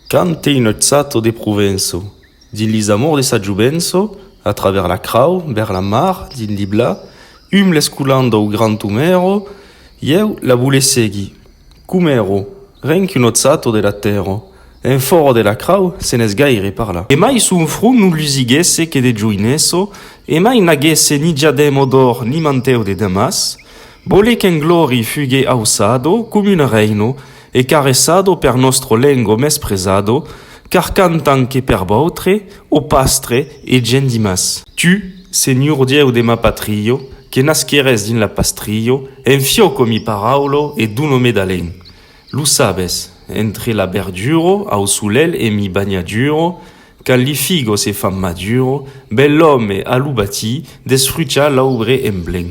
Cante innoçato de Provenço. Dins li amors de sa jovenço, a travèrs la crau, bèrs la mar, dins li bla, um l'escolan dau grand Omèro, ieu la vule seguir. Qu'Omèro, ren qu'innoçato de la tèrra, en fòra de la crau, se n'es gaire parlar. E mai son front non lusiguèsse que de joineço, e mai n'aguèsse ni diadèmo d'òr ni mantèu de damas, vole qu'en glòri fugue auçado com un rèino, E caresado per nòstro lengo mespresado, car cantan que per vautre, o pastre e gent dimàs. Tu, Senhor Dieu de ma patrio, que nasqueres dins la pastrio, en fioco mi paraulo e dono me d'alen. Lo sabes, entre la berduro au solelh e mi banhaduro, quand li figo se fan maduro, bel òme a lo batí desfrucha l'aubre en blen.